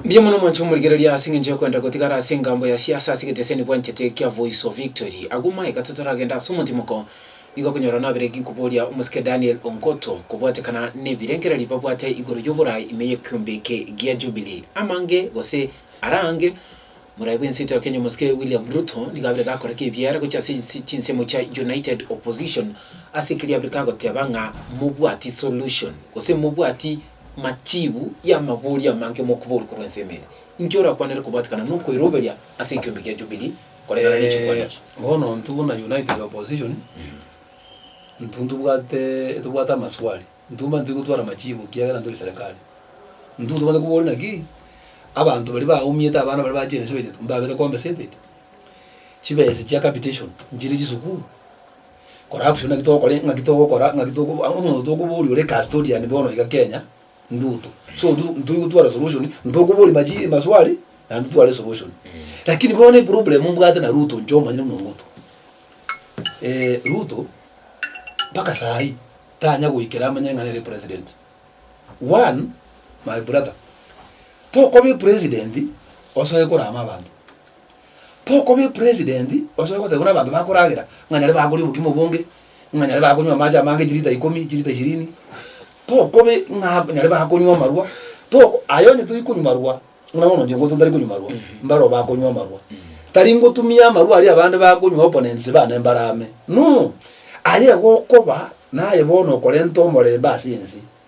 Mbuya mono mwanche komorigereria ase engencho y'okwenda gotigara ase engambo ya siasa ase egeteseni bwanchete kia Voice of Victory. Agwo maegata toragende ase omotimoko nigo okonyora naberegi nkoboria omosike Daniel Ongoto kobwatekana nebirengererio babwate igoro y'oborai ime y'ekiombe eke gia Jubilee. Amange gose ara ange, morai bwenseito ya Kenya omosike William Ruto nigo abire gakoreka ebiara gochia ase ense chinsemo chia United Opposition ase ekeria abire kagoteba ng'a mobwati solution gose mobwati Machiibu y'amabori amange mokuboria korwa ensemo eye, Inki orakwanere kobwatikana nokoiroberia ase ekiombe kia Jubilee koreng'ana nechikwana echi? Bono intwe buna United Opposition, intwe ntobwate tobwate amaswali, intwe mani toigo twara machiibo ekiagera tori serikali. Intwe tobwate koboria naki, abanto baria baumiete abana baria ba Gen Z baito mbabete compensated? Chibesa chia capitation nchire chisukuru? Corruption naki togokora e, ng'aki togokora, ng'aki togo a- omonto tokoboria ore custodian bono iga Kenya, Nduto. So ndu ntoi gotwara solution, ntokoboria maji maswali, naende tware solution. Lakini bono eproblem mbwate na Ruto inche omanyire buna omogotu, Ruto, mpaka saa hii, tanya goikera amanye ng'a nere president. One, my brother, tokoba epresident, osoe korama abanto. Tokoba epresident osoe goteba buna abanto bakoragera ng'a nyare bakoria obokima obonge, ng'a nyare bakonywa amache amange chilita ikomi, chilita ishirini, tokoba ng'a nyare bakonywa amarwa, toko aye onye toikonywa marwa, buna bono inche ngotote ntari konywa marwa, mbaro bakonywa amarwa. Tari ngotumia amarwa aria abande bakonywa opponents bane mbaro ame, no! Aye gokoba naye bono okorenta omorembe ase ense,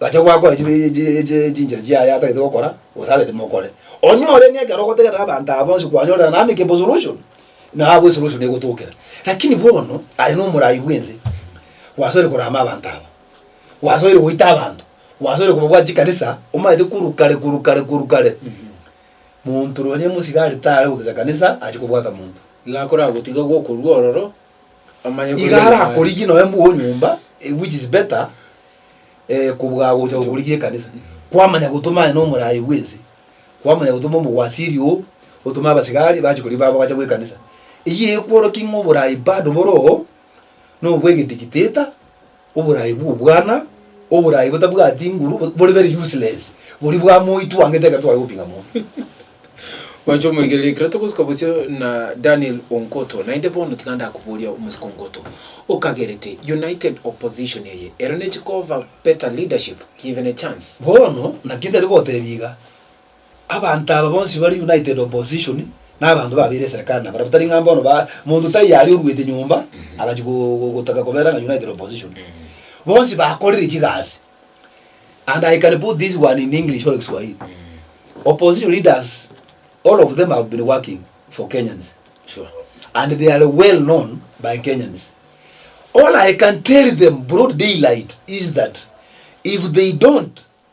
Gacha gwakora chinchera chiaye atagete gokora gose atagete mokore. Onyore ng'a ekero ogotegerera abanto aba bonsi kwanyorire an amicable solution, na agwo esolution egotokera. Lakini bono aye nomorai bwense, gwasoire korama abanto aba, gwasoire goita abanto, gwasoire kobabwati chikanisa, omanyete korwa kare korwa kare korwa kare, monto nonye mosigari tare gotecha kanisa achi kobwata monto. Iga akoragotiga gokorua ororo, Omanye kore Iga are Nyasae. akorigie nonya mbwa onyomba eh, which is better eh, kobua gocha gokorigia ekanisa kwamanya gotoma aye nomorayi bwense kwamanya gotoma omogwasiri oo otome abasigari bache kori baba bacha bwekanisa eyio ekworokia ng'a oborayi bado boro oo nobwe egedigiteta Oboraai bw'obwana, oboraai botabwati nguru, bore very useless, boria bwa moi twangete ekero tware gopinga mono. Mwanche omorigereria ekero togosika bosio na Daniel Onkoto, naende bono tiga ndakoboria omosike Onkoto, okagerete United opposition eye, ero nechi koba better leadership given a chance? Bono, naki ntete gotebia iga, Abanto aba bonsi bare united opposition na abanto babeire eserekari na barabwo tari ng'a bono ba monto taiyo aria oruete nyomba agachia go- go- gotaka kobera ng'a united opposition bonsi bakorire chigasi and i can put this one in english or kiswahili opposition leaders all of them have been working for kenyans Sure. and they are well known by kenyans all i can tell them broad daylight is that if they don't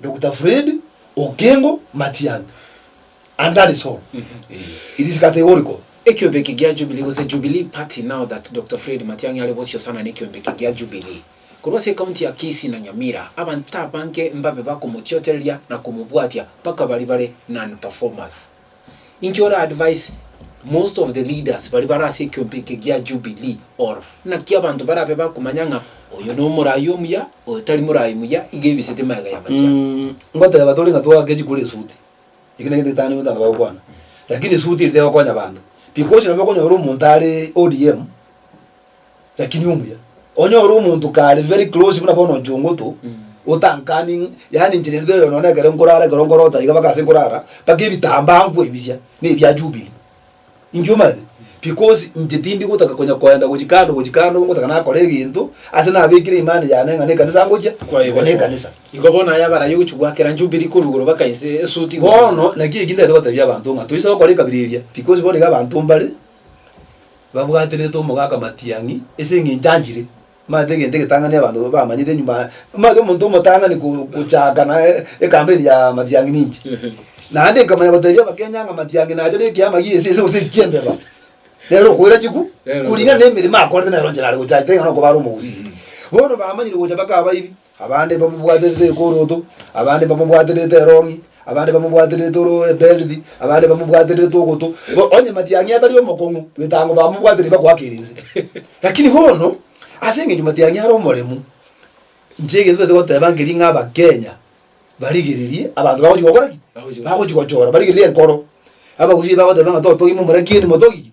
Doctor Fred Okengo Matiang'i and that is all. It is categorical. Ekiombe eke gia Jubilee gose Jubilee Party now that Doctor Fred Matiang'i are bosio sana nekiombe eke gia Jubilee korwa ase ecounty ya Kisii na Nyamira abanto abange mbabe bakomochiotereria na komobwatia mpaka baria bare non performers. Inki ora advise most of the leaders baria bare ase ekiombe eke gia Jubilee? Or naki abanto barabe bakomanya ng'a oyo nomoraai omuya, oyo tari moraai muya, iga ebisete magega y'abachiabi. Ngoteba tore ng'a twake chikuru esuti, eki negento etanigwe ntana bagokwana, lakini esuti eri tegokonya abanto, because nabo okonyora omonto are ODM, Lakini omuya onyore omonto kare very close buna bono nchungutu otankani ng- yaani nchire nde oyo none ekero nkorara ekero nkorota iga mpaka ase nkorara mpaka ebitambaa nkoebisia na ebia jubilee inki omanyete because inche tindi gotaka konya koenda gochia kando gochia kando ngotaka nakore egento ase nabekire imani yane ng'a na ekanisa ngochia Kwayebeeka. na ekanisa Igo bono aya abaraia ogochia goakera Jubilee korwa igoro mpaka inse esuti bono naki eki ntagete gotebia abanto ng'a toise gokora ekabira eria because bono iga abanto mbare Babwaterete omogaka matiang'i ase engencho anchire. Omanyete egento egetang'ani abanto bamanyete enyuma aa, omanyete omonto omotang'ani ko- kochaaka na ekampeni ya matiang'i ninche. Naende nkamanya gotebia abakenya ng'a matiang'i nacha na ekiama gie esese gose ekiembeba, nere okoira chikwi Nere okoira. kuringana na emeremo akorete nere inche nare gochacha tari ng'a nokoba are omogusi. Bono bamanyire gocha bakaba ebi. Abande mbamobwaterete Ekoroto, abande mbamobwaterete Erong'i, abande mbamobwaterete oro Eberithi, abande mbamobwaterete Ogoto. Igo onye matiang'i atari omokong'u, bwetango bamobwatereti bagoakera inse. Lakini bono, ase engencho matiang'i are omoremu, inche egento ntagete goteba nkeri ng'a Abakenya barigererie abanto bagochi gokora ki? Bagochi gochora. Bagochi gochora, barigererie enkoro. Abagusii bagoteba ng'a totogima omoraki endi motogi ki?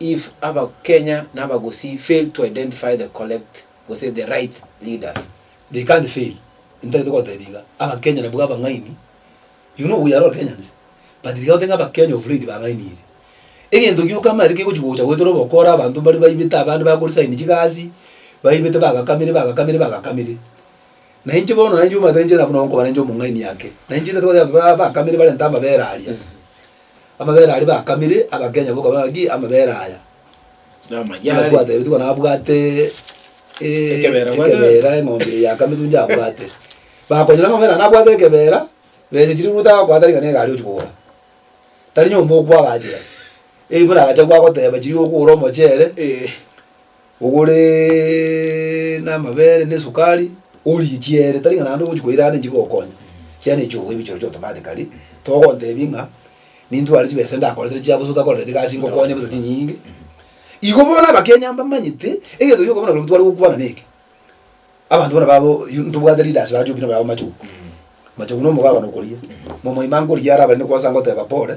If aba Kenya na abagusii fail to identify the collect gose the right leaders. They can't fail ntagete gotebia iga aba Kenya nabwo abang'aini you know we are all Kenyans but tiga gotenga aba Kenya of late bang'ainire egento gioka amaete kegochi gocha goetera obokora abanto mbare baibete abande bakore sign chigasi baibete bagakamire bagakamire bagakamire na inche bono nainche omanyete nainche buna nkobana nainche omong'aini ake nainche ntagete goteba abanto bakamire barente amabere aria. Amabera aria bakamire abakenya bokabana naki amabera aya. Namanyare. Ng'a twatebetigwe bono abwate eh, Ekebera abwate. ekebera eng'ombe eye yakamitwe inche abwate. Bakonyora amabera aya nabwate ekebera, besa chiria ruto agakwata rigana egari ochia kogora. Tari nyomba okwagachera. Eyi buna agacha gwagoteba chiria okogora omochere. Eh. Ogore namabere na esukari orichie ere, tari ng'a naende ogochia koirana enchera chigokonya, chiria ne chiogo ebichoro chire automatically, togontebia ng'a nintware chibesa ndakoretire chia bosa otakoreti gasi ngokonye bosa chinyinge. Igo bono abakenya mbamanyete egento gioka bono ekero tware gokwana neke, abanto bono babo yu ntobwate leaders ba choki nabare aba machogu, machogu na omogabane okoria, momoima nkoria are abare ne kwansa ngoteba pole,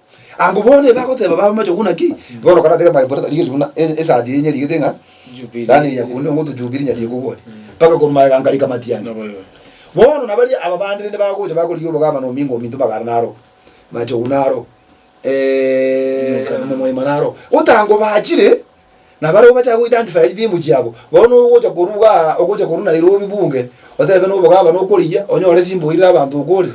Abwo bono ebagoteba bamamache okuna ki? Bono ekero natega my brother rigerio buna e- esaati enye rigete ng'a Jubili. yaani eria kunde ngotu jubili nyari ekogwani mpaka komaega nkarika matiang'i Nabo igo. bono na baria aba bande rende bagocha bakorigia obogavana ominto ominto mpaka are naro machogu naro Omoika naro. omomoima naro gotango bachire na barabwo bachaka go identify etimu chiabo bono ogocha korwa bwa ogocha korwa Nairobi bunge otebe nobogavana okorigia onyore simba oirire abanto okore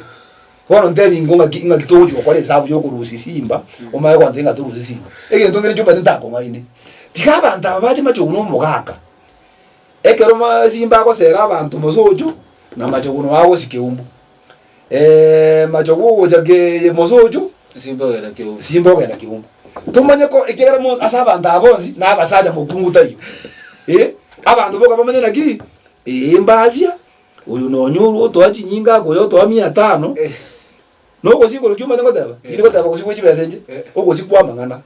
Bono ntebie ingo ng'aki ng'aki togochia gokora esabu y'okorusia esimba, omanye gontebia ng'a torusie esimba. Egento nkere chiombete ntakong'aini, tiga abanto aba bache machogu na omogaka, ekero ma esimba agosera abanto mosocho, na machogu nao agosie keumbu. machogu ogocha kee mosocho, Esimba ogenda keumbu. esimba ogenda keumbu. Tomanye ko ekiagera mon ase abanto aba bonsi, na abasacha mokungu taiyo, eh, abanto boka bamanye naki, eimbasia. Oyo nonya orwo otoa chinyinga akoya otoa mia etano, na ogosii korokio omanye goteba? Tindi goteba ogosii gwe chibesa enche, ogosii kw'amang'ana.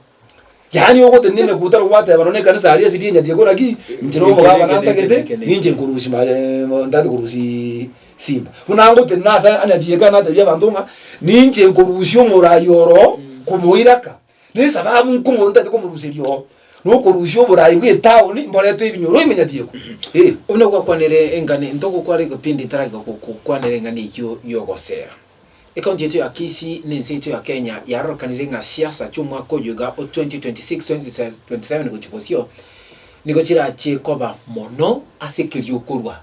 Yaani ogotenena emekuta robo gwateba nonya ekanisa aria ase rienya tiga ekora ki? Inche na omogabana ntagete, ninche nkorusia maye mo ntagete korusia simba. Buna ngotenena ase anyatiga ekero natebia abanto ng'a ninche nkorusia omoraai oroo komoira aka. Nesababu inki omonto taete komoruseria oo nokorusia oboraai bw'etaoni mborete ebinyoro ime nyatiekwa? Eh. Buna gwakwanire engane into ogokwara egepindi etarageka gokokwanera engane eyio y'ogosera. Ecounty yaito ya Kisii na ense yaito ya Kenya yarorekanire ng'a siasa chi'omwaka oyo iga o 2026-2027 gochia bosio nigo chirachie koba mono ase ekeriokorwa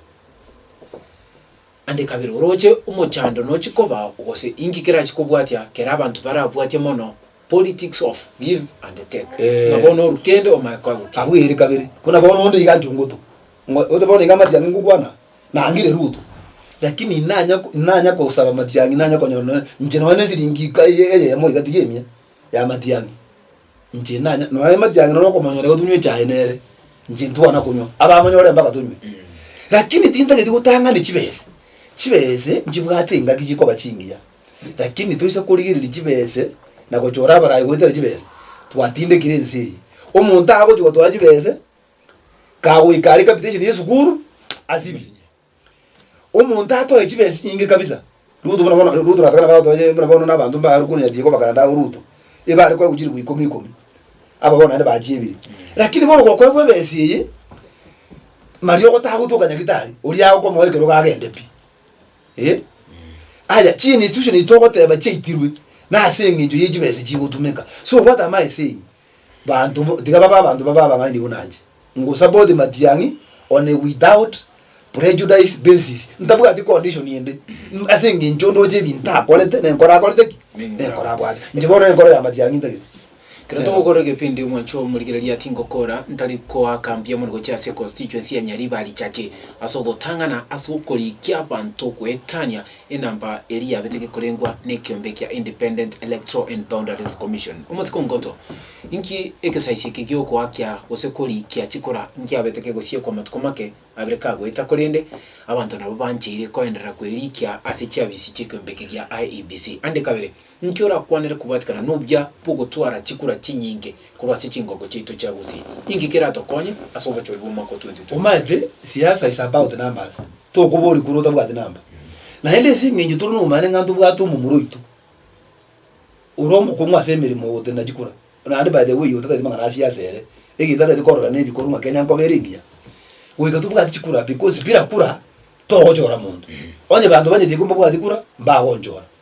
Naende kabere orooche omochando nochi kobao gose inki kerachi kobwatia kere abanto barabwatie mono politics of give and take buna bono oru kende omae koagokia. Abwo ere kabere buna bono onde iga intwe ngotu ngo ote bono iga amatiang'i ngokwana nangire ruto lakini nanya nanya kosaba amatiang'i nanya konyora nonya inche nonya ne siringi ika eye eyemo iga tiga emia ya amatiang'i. Inche nanya, nonya emati yange nonya okomonyora igo tunywe echae nere, inche ntwana konywa, abamonyore mpaka tonywe. Lakini tintageti gotang'ani chibese, chibese nchibwate engaki chikoba chingiya, lakini toise korigereria chibese na gochora abarai goetera chibese, twatindekire ense eye. Omonto agochia gotwara chibese, kagoika are capitation ya esukuru, asibie. Omonto atoe chibesa chinyinge kabisa, Ruto buna bono, Ruto nataka nabo atoe buna bono na abanto mbaye arokwe onyati iko bakagenda agwo Ruto, igo are koegwa chiribu ikomi ikomi, aba bono naende bachiebire. Lakini bono gokoegwa ebesa eye, maria ogotaha gotoka nyagitari, oria agokomoa ekero iga agende pi. Eh, aya chi institution echi togoteba chiaitirwe, nase eng'encho ye chibesa echi chigotumeka. So what am I saying? Banto bo, tiga babe abanto babe abang'aini buna inche, ngosabe oti matiang'i, one without prejudice basis, ntabwati condition ende, mm, ase engencho ndoche ebinto akorete, nenkoro akorete ki? Nenkoro abwate. Inche bono nenkoro ya matiang'i ntagete. Ekero togokora egepindi omwancho omorigereria tingokora, ntari koakambia mono gochia ase constituency ya Nyaribari Chache ase ogotang'ana ase okorikia abanto goetania Enamba eria yabete gekorengwa nekiombe kia Independent Electoral and Boundaries Commission. Omosikongoto, Inki egesaisio eke giogoakia gose korikia chikura nkiabete kegosiekwa amatuko make abere kagoeta korende abanto nabo bancheire koenderera kwerikia ase chiafisi chi'ekiombe eke gia IEBC? Ande kabere, inki orakwanere kobwatikana nobuya bw'ogotwara chikura chinyinge? korwa ase chingoko chiaito chia gusii, inki keratokonye ase obochori bw'omwaka o 2026? Omanyete siasa is about numbers, tokoboria korwa otabwati number. Naende ase eng'encho tore nobomanyene ng'a ntobwate omomura oito ore omokong'u ase emeremo ogotenena chikura, naende by the way otagete mang'ana a siasa ere, egento tagete korora na ebikorwa ng'a kenya nkoba ere engiya, goika tobwati chikura because bila kura togochora monto. Onye banto banyetiga kobabwati kura, mbagonchora.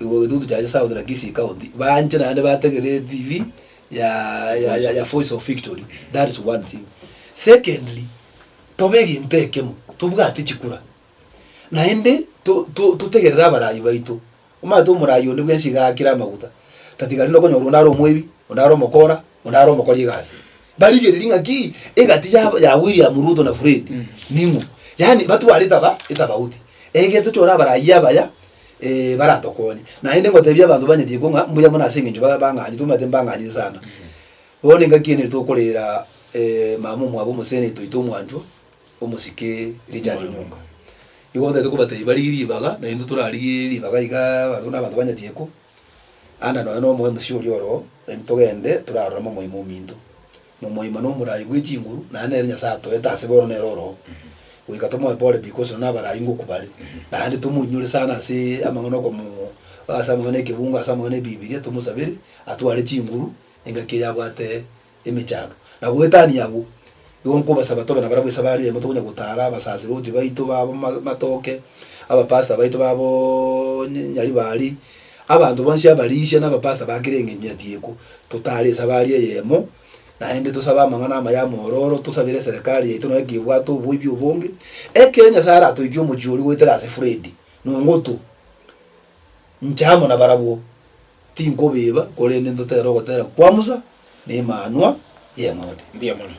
Igwa getutu kiaye south na kisii county banche naende bategerere TV ya ya ya ya voice of victory that is one thing secondly tobe egento ekemo tobwate chikura naende to to totegerere abarayi baito omanyete omorayi onde bwensi iga agakire amaguta tatiga rinde okonyora onde are omoibi onde are omokora onde are omokori egasi barigereria ng'a kii egati ya ya William Ruto na Fred ning'o yaani batwarete aba etabauti egere tochore abarayi abaya ee, baratokonye. Naende ngoteebie abanto banyete iko ng'a mbuya mono ase eng'encho ba- bang'anyete, omanyete mbang'anyete sana. Bono nigo ngaki enire tokoreera eh, mama omwabo omoseeni toito omwanchwa, omosike Richard Onyonga. Nigo ntagete kobateebia barigie ribaga, naintwe torarigie ribaga igaa abanto na abanto banyete iko, ande nonya na omo MC oria oroo, naintwe togende toraroreme omoyio mwa ominto. momoima nomorai bwe chinguru, naende nere Nyasae atoete ase bono nere oroo, goika tomoe pore pi gose na abarai ngoku bare, naende tomoinyore sana ase amang'ana okomo ase amang'ana ekebungo ase amang'ana ebibiria tomosabere atware chinguru engaki eye abwate emechando. Na goetania abwo, igo nkobasaba tobe nabarabwo esabari eyemo tokonya gotara abasasiroti baito babo ma matoke, abapastor baito baboooo nyaribari. Abanto bonsi abarisia nabapasta bakire eng'encho nyatieko, totaare esabari eyemo, naende tosabe amang'ana amaya amororo, tosabere eserekari yaito nonya kebwate oboibi obonge. Ekero Nyasae aratoichwe omochie oria goetera ase Fredi, nongotu. Inche amo nabarabwo. Tinkobeba, korende ntotere ogotera kwa Musa, nemanwa y'eng'ondi. Mbuya mono.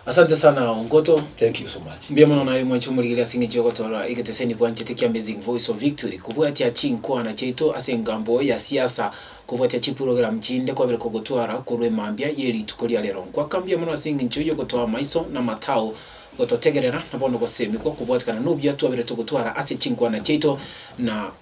Asante sana Ongoto. Thank you so much. Mbuya mono naye mwanchi omorigereria ase eng'encho y'ogotoora egeteseni bwanchete kia Amazing Voice of Victory. Kobwatia chinkwana chiaito ase engambo ya siasa, kobwatia chipurogramu chinde kwabire kogotwara korwa emambia ye rituko ria rero. Nkwaka mbuya mono ase eng'encho y'ogotoa amaiso na amatao, gototegerera, na bono gosemigwa kobwatikana n'obuya twabire togotwara ase chinkwana chiaito na